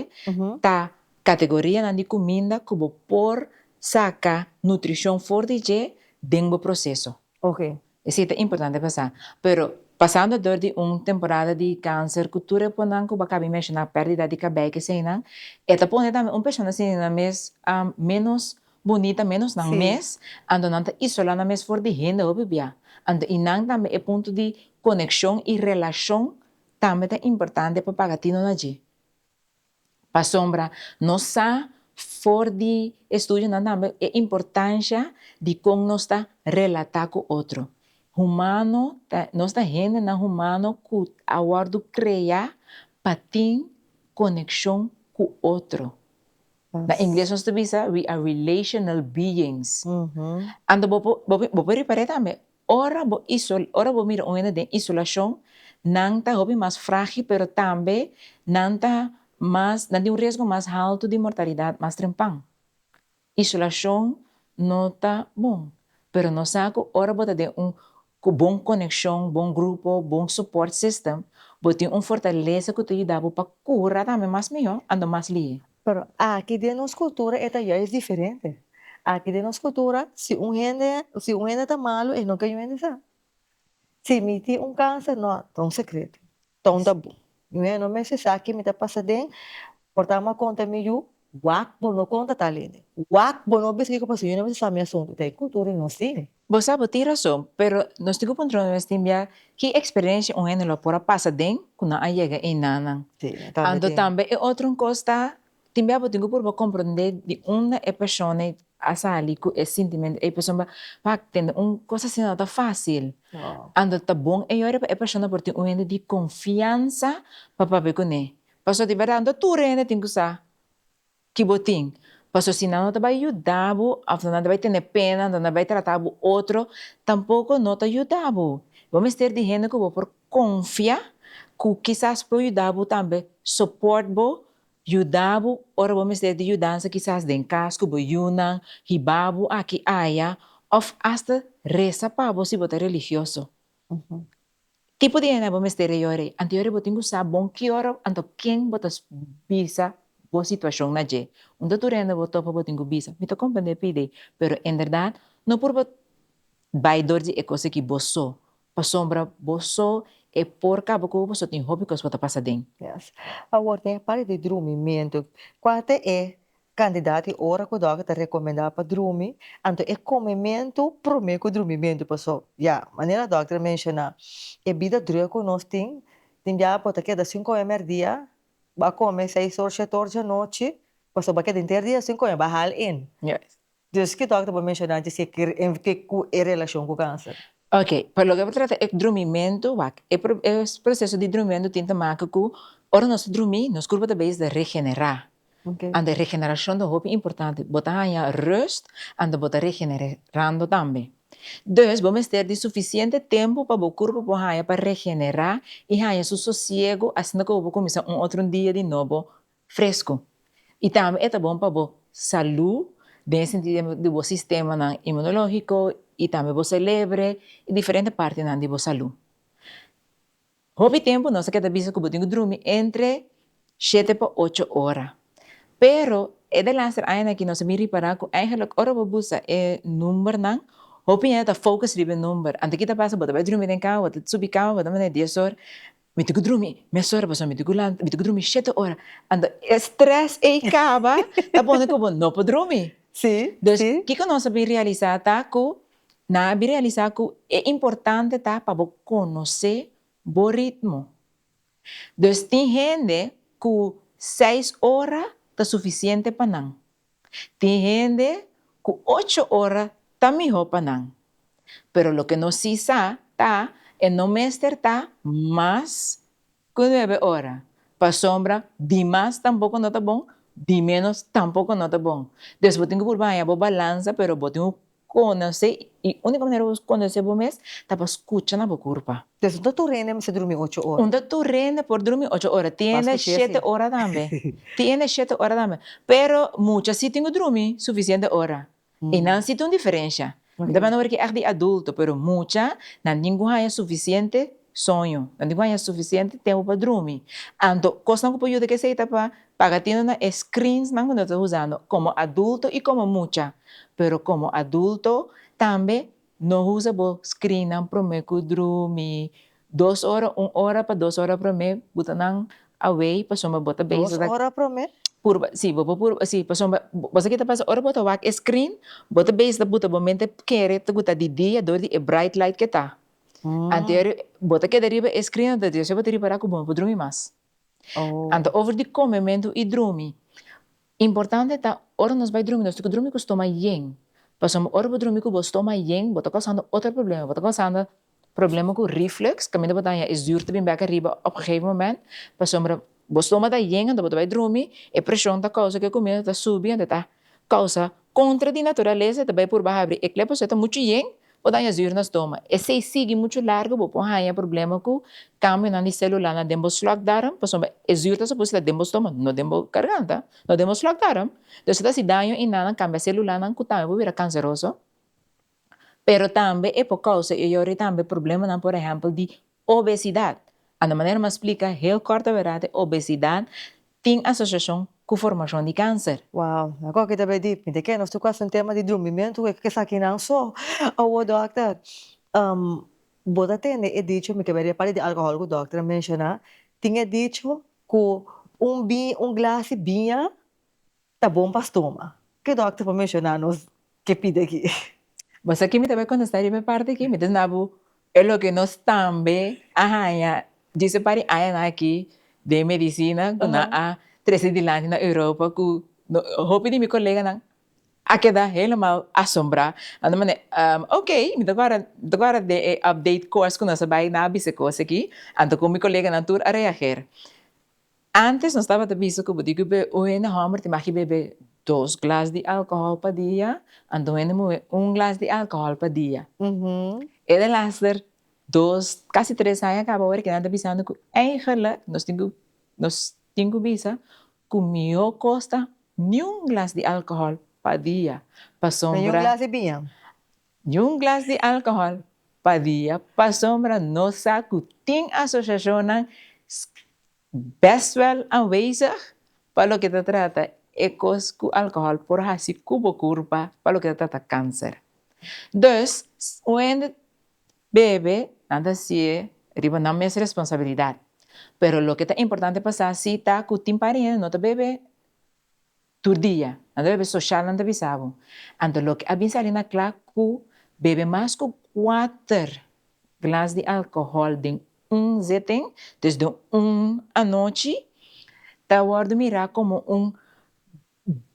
ta kategorianan di kuminda ku bo por saka nutrishon for di dje den bo proseso. Oke. E sí ta importante pa sa. Pero pasando dor di un temporada di kanser ku tur e ponan ku bo a kaba di menshoná, pérdidas di kabei, keseinan, e ta pone tambe un persona asina mes ménos Bunita mi nos nan mes, anto nan ta isola nan mes for di hende hopi bia, anto i nan tambe e punto di konekshon i relashon tambe ta importante pa pagatino na dje. Pasobra nos sa for di estudionan tambe e importansha di kon nos ta relatá ku otro. Humano ta nos ta hendenan humano ku a wòrdu kreá pa tin konekshon ku otro. Na ingles nos ta bisa, we are relational beings. Anto bo por bo por repar'é tambe, ora bo iso ora bo mira un hende den isolashon, nan ta hopi mas frágil pero tambe nan ta mas nan tin un riesgo mas haltu di mortalidat mas trempan. Isolashon no ta bon, pero nos sa ku ora bo ta den un Ku bon konekshon, bon grupo, bon support system, bo tin un fortalesa ku ta yuda bo pa kura tambe mas mihó, ando mas lihe. Pero aki den nos kultura e ta yais diferente. Aki den nos kultura si un hende si un hende ta malu e no ke yu hende sa. Si mi tin un kanser, no, ta un sekreto. Tonta bo. Nuhé, no mester sa ki mi ta pasa den, por ta ama konta mi yu, wak bo no konta tal hende. Wak bo no bisa kiko pasa, yu no mester sa mi asuntu, ta e kultura di nos tin. Bo sa bo tin rason, pero nos tin ku puntra nos mes tin bia ki eksperensia un hende lo a por a pasa den ku nan a yega ei nanan. Si, tambe tin. Anto tambe e otro un kos ta Timbe abo tin cu purba comprende di unda e persona a sali cu e sintimento ey pasobra bo a tende un cos asina no ta facil, anto ta bon e yordje pa e persona por tin un hende di confianza pa papia cu ne, pasobra di berdad no ta tur e hende tin cu sa ki bo tin, pasobra si nan no ta bay yuda bo of nan ta bay tene pena nan ta bay trata bo otro tampoco no ta yuda bo, bo mester di hende cu bo por confia cu kisas por yuda bo tambe support bo Yuda bo ora bo mester di yudansa kisas den kas ku bo yunan, hiba bo aki aya, òf asta resa pa bo si bo ta religioso. Ki tipo di hende bo mester a yore? Anto yore bo tin ku sa bon ki ora anto ken bo ta bisa bo situashon na dje. Unda tur hende bo topa bo tin ku bisa, Mi ta komprendé p'e idei, pero en berdat no por bo bai dor di e kos aki bo so. Pasobra boso e por cabo cu boso tin hopi cos pa ta pasa den. Yes. Awor tin e parti di drumimiento. Cua ta e candidato y ora cu dokter ta recomenda pa drumi, anto e comimento prome cu drumimento. Paso ya, manera dokter a menciona, e bida drue cu nos tin, tin bia bo ta keda sin come merdia, bo a come seis or, shete or di anochi, paso bo a keda henter dia sin come, bo a hala en. Yes. Dus ki dòkter bo menshoná dje si e kere en ke ku e relashon ku kanser? Ok, pa loke bo trata e drumimentu, wak, e proseso di drumimentu tin ta make ku ora nos ta drumí, nos kurpa ta beis ta regenerá. Anto e regenerashon ta hopi importante, bo ta haña rust anto bo ta regenerando tambe. Dus bo mester di sufisiente tempu pa bo kurpa por haña pa regenerá i haña su sosiegu asina ku bo por kuminsá un otro dia di nobo Fresco. Y tambe e ta bon pa bo salú den e sentido di bo sistemanan inmunológiko y tambe bo selebre y diferente partinan di bo salú. Hopi tempu nos a keda bisa ku bo tin ku drumi entre shete pa ocho ora. Pero e de laster añanan aki nos a bin ripará ku eigenlik ora bo busa e numbernan, hopi hende ta focus riba e number. Anto ki ta pasa bo ta bai drumi den kama, bo ta subi kama bo ta manera dies or, Mi ti cu drumi mesora pasobra mi ti cu lanta, mi ti cu drumi shete ora, ando e stress ey caba ta pone cu bo no por drumi, dus kico nos a bin realisa ta cu nan a bin realisa cu e importante ta pa bo conoce bo ritmo, dus tin hende cu seis ora ta suficiente pa nan, Tin hende ku ocho ora ta mihó pa nan. Pero loke nos si sa ta e no mester ta mas ku nuebe ora, pasobra di mas tampoko no ta bon, di ménos tampoko no ta bon. Pues bo tin ku purba haña bo balansa, pero bo tin ku Konosé i úniko manera bo konosé bo mes ta pa skucha na bo kurpa. Des un taturene mester drumi ocho ora. Un taturene por drumi ocho ora, tiende shete ora tambe, tiende shete ora tambe. Pero mucha si tin ku drumi sufisiente ora i nan sinti un diferensha. Mi ta manda ora ki ègt di adulto, pero mucha nan tin ku haña sufisiente soño, nan tin ku haña sufisiente tempu pa drumi. Anto kosnan ku por yuda ku esei ta pa Pagatino na e screensnan ku nos ta usando komo adulto i komo mucha, pero komo adulto tambe no usa bo screennan promé ku drumi, dos ora, un ora pa dos ora promé buta nan away pasobra bo ta bezig ta. Dos ora promé? Purba, si, bo por purba, si, pasobra bo sa kita pasa ora bo ta wak e screen bo ta bezig ta buta bo mente kere ku ta di dia dor di e bright light ke ta, anterior bo ta keda riba e screen anto di esei bo ta ripará ku bo no por drumi mas. Anto over di come mentu y drumi, importante ta ora nos bay drumi nos tin cu drumi cu stoma yen, pasobra ora bo drumi cu bo stoma yen bo ta causando otro problema, bo ta causando problema cu reflux caminda bo ta haña e zuur ta bin bek ariba op gegeven moment pasobra bo stoma ta yen anto bo ta bay drumi e presion ta causa cu e comida ta subi anto e ta causa Kontra di naturalesa ta bai purba habri e klep osea ta muchu yen o daña zuur na stoma. Esei sigui muchu largu bo por haña problema ku kambionan di selulanan den bo slokdarm pasobra e zuur ta supos ta den bo stoma no den bo garganta, no den bo slokdarm. Entonces ta hasi daño i nan kambia selulanan ku tambe por bira kanseroso pero tambe e por kousa i e yori tambe problemanan por ehèmpel di Obesidad. A na manera mas splica heel corto verdad e obesidad tin asociacion cu formacion di cancer. Wow, na cu aki ta bay deep. Mi ta kere nos ta cu haci un tema di drumimiento cu e kes akinan so. Awo dokter, bo ta tende e dicho, mi ta bira di e parti di alcohol cu dokter a menciona, tin e dicho cu un un glasi biña Ta bon pa stoma. Ke dòkter por menshoná nos ke pidi aki? Bo sa ke mi ta bai kontestá riba e parti aki? Mi ta sina bo e loke nos tambe a haña djis e par di añanan aki den medisina ku nan a trese dilanti na Europa ku hopi di mi koleganan a keda helemal asombrá. Nan ta manda ok, mi ta guarda mi ta guarda den e update kos ku nos a bai na a bisa kos aki, anto kon mi koleganan tur a reager. Antes nos tabata bisa ku bo di bibe un hende hòmber tin maki bebe dos glas di alkohòl pa dia, anto un hende muhe un glas di alkohòl pa dia. E de laster dos, kasi tres aña kaba awor ke nan ta bisando ku eigelik nos tin ku nos tin ku bisa ku mihó kos ta niun glas di alkohòl pa dia pasobra. Niun glas di biña? Yin glas di alcohol pa dia pa sombra no sa cu tin asociacionnan best wel anwezig pa loke ta trata e cos cu alcohol por haci cu bo curpa pa loke ta trata cancer. Dus wende bebe nan ta sie riba nan mes responsabilidad pero loke ta importante pa sa si ta cu tin pariente no ta bebe. Tur dia, nan ta bebe soshal nan ta bisa bo. Anto loke a bin sali na kla ku bebe mas ku kuater glas di alkohòl den un zitting, dus den un anochi, ta wòrdu mirá komo un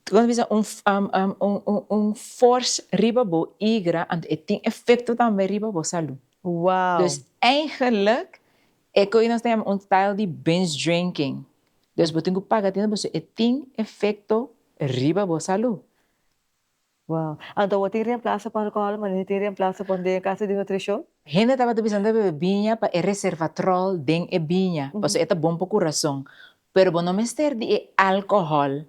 kiko nan bisa un fors riba bo igra anto e tin efekto tambe riba bo salú. Wow! Dus eigenlik E cu nos ta yama un style di binge drinking. Dus bo tin cu paga atende bo su e tin efecto riba bo salud. Wow. Anto bo tin reemplaso pa alcohol manera e tin reemplaso pa un den e casa di nutricion? Hende tabata bisa nan ta bebe biña pa e reservatrol den e biña, pasobra e ta bon pa curazon. Pero bo no mester di e alcohol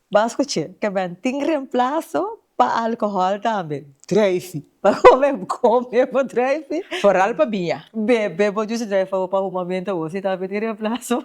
Ban scuche, Caben tin reemplaso pa alcohol tambe. Drijfi. Pa come come bo drijfi. Foral pa biña. Bebe bo jusi drijfi pa bo pa humamento bo si tambe tin reemplaso.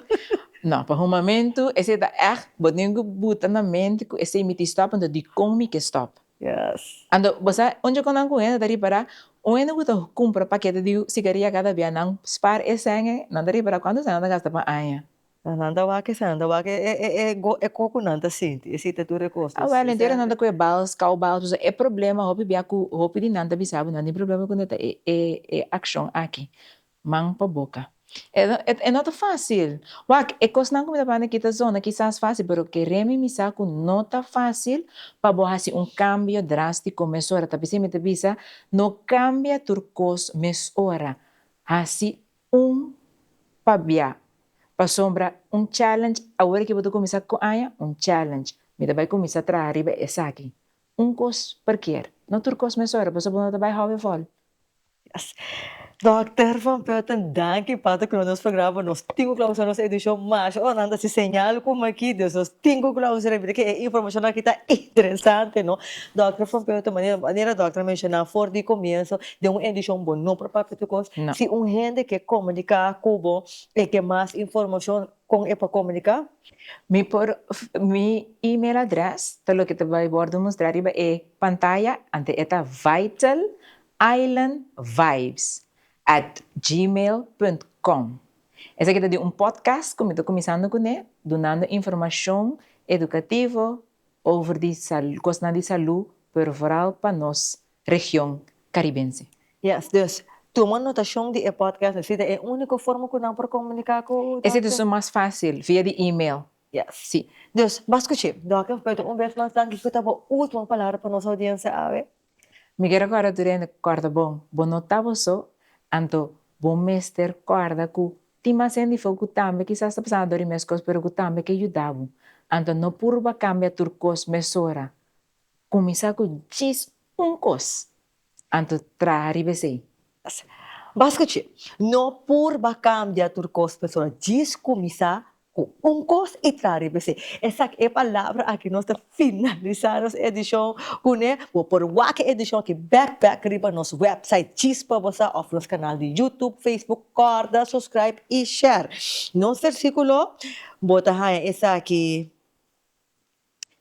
No, pa humamento esey ta echt bo tin cu buta na mente cu esey mi tin stop anto dicon mi ke stop. Yes. Anto bo sa un djoconan cu hende ta ripara? Un hende cu ta cumpra pakete di cigaria cada bia nan spaar e cenge nan ta ripara cuanto cenge nan ta gasta pa aña. Sa nan ta wak e sa nan ta wak e e koko nan ta sinti e si ta tur e kos ta sinti entera nan ta ku e bals kou bals pues e problema hopi bia ku hopi di nan ta bisa bo nan tin problema ku nan ta e e e akshon aki man pa boka e no e no ta fasil wak e kosnan ku mi ta banda aki ta zona kisas fasil pero kere mi misa ku no ta fasil pa bo hasi un kambio drastiko mesora ta p'esei mi ta bisa no kambia tur kos mesora hasi Un pabia, pasobra un challenge, awor ki bo ta kuminsá ku aña, un challenge, mi ta bai kuminsá traha riba esaki. Un kos per kier, no tur kos mes ora, pasobra no ta bai hòbe vòl. Dòkter van Velton danki pa ta kloe nos programa, nos tin ku klausura nos edishon masha ora nan ta hasi señal ku makí, dus nos tin ku klausura, mira ke e informashonnan aki ta interesante no. Dòkter van Velton, manera, manera dòkter a menshoná for di komienso, den un edishon bo no por papia tur kos, si un hende ke komuniká ku bo e ke mas informashon kon e por komuniká? Mi por mi email adrès ta loke ta bai wòrdu mustrá riba e pantaya anto e ta vitalislandvibes at gmail punt com esaki ta di un podcast ku mi ta kuminsando kuné dunando informashon edukativo over di kosnan di salú pervoral pa nos region Caribense. Yes, dus tuma notacion di e podcast así ta e unico forma cu nan por comunica cu Doc. E situacion mas facil via di email. Yes. Si. Dus bas scuchi, Doc of Beto un bes mas danki cu ta bo ultimo palabra pa nos audiencia awe? Mi ke recorda tur hende cu corda bon, bo no ta bo so, anto bo mester corda cu tin mas hende afuer cu tambe kisas ta pasando door di mescos pero cu tambe ke yuda bo, anto no purba cambia tur cos mesora Kuminsá ku djis un kos, anto traha riba esei. Bai skuch'é, No purba kambia tur kos persona, djis kuminsá ku un kos i traha riba esei. Esaki e palabra aki nos ta finalisá nos edishon kuné. Bo por wak e edishon aki bèk bèk riba nos wèpsait djis pa bo sa òf nos kanal di YouTube, Facebook. Kòrda suskraib i share nos versíkulo. Bo ta haña esaki.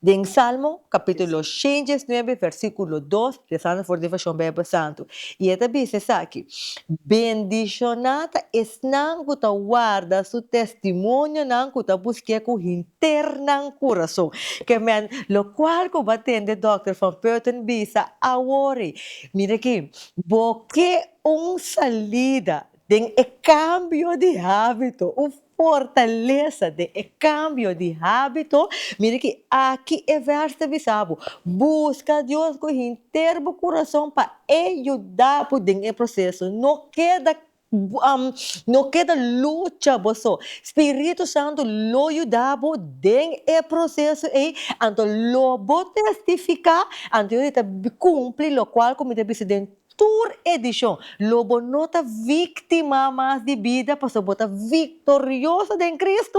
Den Salmo capítulo shen dies nuebe versículo dos, rezando for di version Bijbel Santo, y e ta bisa esaki, Bendishoná ta esnan cu ta warda su testimonionan cu ta busqu'é cu henter nan curason. Kemèn, locual cu bo a tende Dòkter Van Putten bisa awor ei, Mira aki, bo ke un salida Den e kambio di hábito, un fortalesa den e kambio di hábito, mira ki aki e vèrs ta bisa bo, Buska Dios ku henter bo kurason pa E yuda bo den e proseso. No keda no keda lucha bo so, Spiritu Santu lo yuda bo den e proseso ei, anto lo bo testifiká, anto yo di ta kumpli lokual ku mi ta bisa den Tur edishon, lo bo no ta víktima mas di bida pasobra bo ta viktorioso den Kristu.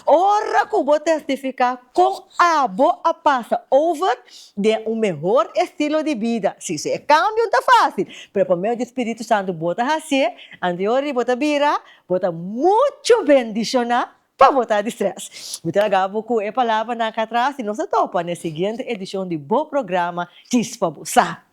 Ora ku bo tèstifiká kon abo a pasa over den un mehor estilo di bida, si su e kambio no ta fásil, pero pa medio di spiritu santu bo ta hasié, anto ora bo ta bira, bo ta muchu bendishoná pa botá di strès. Mi ta laga bo ku e palabranan aká atras i nos ta topa na e siguiente edishon di bo programa Kies pa bo sa.